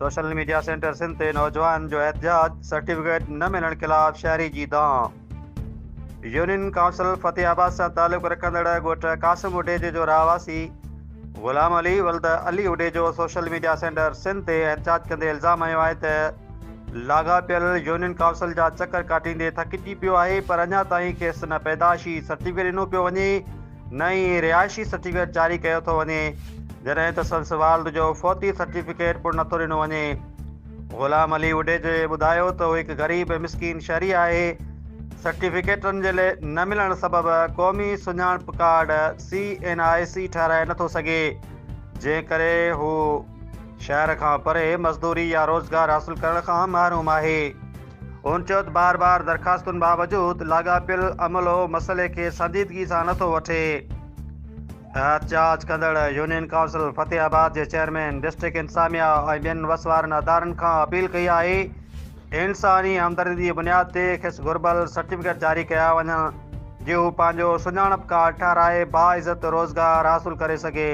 Social media centre Sindh تي نوجوان جو احتجاج، سرٽيفڪيٽ نه ملڻ خلاف شهري جي دانهن. يونين ڪائونسل فتح آباد سان تعلق رکندڙ ڳوٺ قاسم اڊيجي جو رهواسي غلام علي ولد Ali Adejo social media centre Sindh تي احتجاج ڪندي الزام هنيو آهي ته لاڳاپيل يونين ڪائونسل جا چڪر ڪاٽيندي ٿڪجي پيو آهي پر اڃا تائين کيس نه پيدائشي سرٽيفڪيٽ ڏنو پيو وڃي نه ئي رهائشي سرٽيفڪيٽ جاري ڪيو ٿو وڃي، جڏهن ته سندس والد جو فوتي سرٽيفڪيٽ پڻ نٿو ڏنو وڃي. غلام علي وڏيجي ٻڌايو ته هو هڪ غريب ۽ مسڪين شهري آهي، سرٽيفڪيٽن جي نه ملڻ سبب قومي سڃاڻپ card, C N I C, ٺهرائي نٿو سگهي، جنهن ڪري هو شهر کان پري مزدوري يا روزگار حاصل ڪرڻ کان محروم آهي. هن چيو ته بار بار درخواستن باوجود لاڳاپيل عملو مسئلي کي سنجيدگي سان نٿو وٺي. احتجاج ڪندڙ يونين ڪائونسل فتح آباد جي چيئرمين، ڊسٽرڪٽ انتظاميا ۽ ٻين وس وارن ادارن کان اپيل ڪئي آهي ته انساني همدردي جي بنياد تي کيس گهربل سرٽيفڪيٽ جاري ڪيا وڃن جي هو پنهنجو سڃاڻپ ڪارڊ ٺهرائي باعزت روزگار حاصل ڪري سگهي.